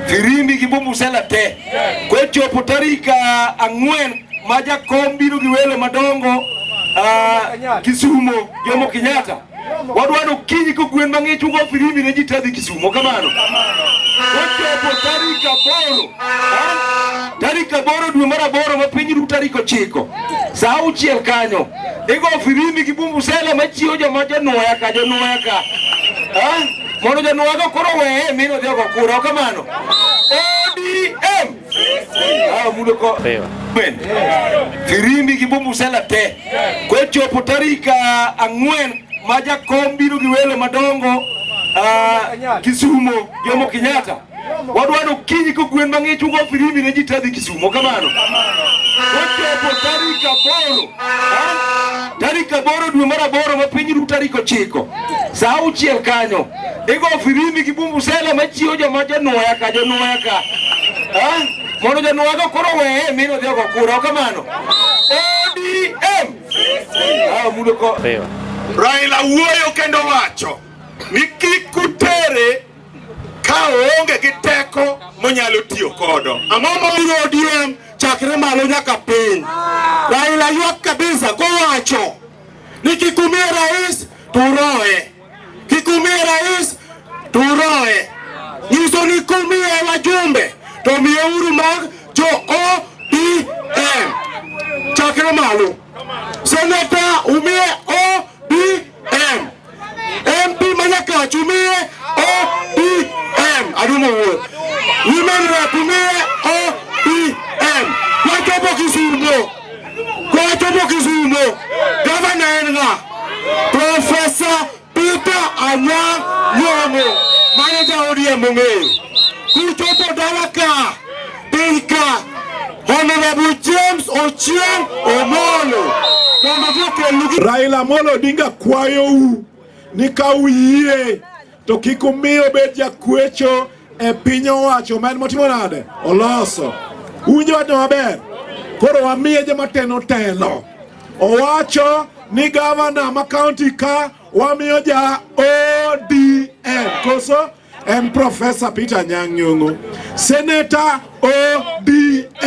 Firimbi gi bumusela te kwechopo tarik ah, ang'wen ma jakom biro gi welo madongo ah, Kisumo Jomo Kenyatta Wadwa ni okinyi kogwen mang'ich ugo firimbi ne ji tadhi Kisumo kamano. Ochopo tarik aboro. Tarik aboro dwe mar aboro ma piny ru tarik ochiko. Sa auchiel kanyo. Igo firimbi gi bumbu sela machiwo joma jonwoya ka jonwoya ka. Mondo jonwoya go koro weye mino dhi ogo kura kamano. ODM Firimbi gi bumusela te kochopo tarik ah, ang'wen ma jakom biro gi welo madongo ah, Kisumo Jomo Kenyatta wadwaro kiny ko gwen mang'ich ugo firimbi ne ji tadhi Kisumo kamano kochopo tarik aboro ah, tarik aboro dwe mar aboro ma piny ru tarik ochiko saa auchiel kanyo Iko firimbi kibumbu sela machiyo joma januoya ka januoya ka. Ha? Mondo januoya ka koro weye mino dhiyo kwa kura. Kamano. ODM. Ah, mudo ko. Raila wuoyo kendo wacho ni kik kutere ka oonge gi teko monyalo tiyo kodo. Ang'o mabiro ODM chakre malo nyaka piny. Raila ywak kabisa kowacho ni kik umie rais turoe. Kikumie rais turoe nyiso ni kumie wajumbe to miyeuru mag jo ODM chakre malo. Seneta umie ODM, MP Manyakach umie ODM, adumo wuoth women rep umie Kwa watoto Kisumu, gavana Enga, Profesa Peter Anyang' Nyong'o, manager ODM ong'eyo. Kuchopo dala ka, piny ka, Honorable James Ochieng' Omolo, mondo jokelnugi. Raila Amolo Odinga kwayou ni ka uyie To kik umiyo obed jakwecho e piny owacho ma en motimo nade oloso. Uwinjo wachno maber? Koro wamiye joma teno telo. Owacho ni gavana ma kaunti ka wamiyo ja ODM koso en Profesa Peter Nyang' Nyong'o. Seneta ODM.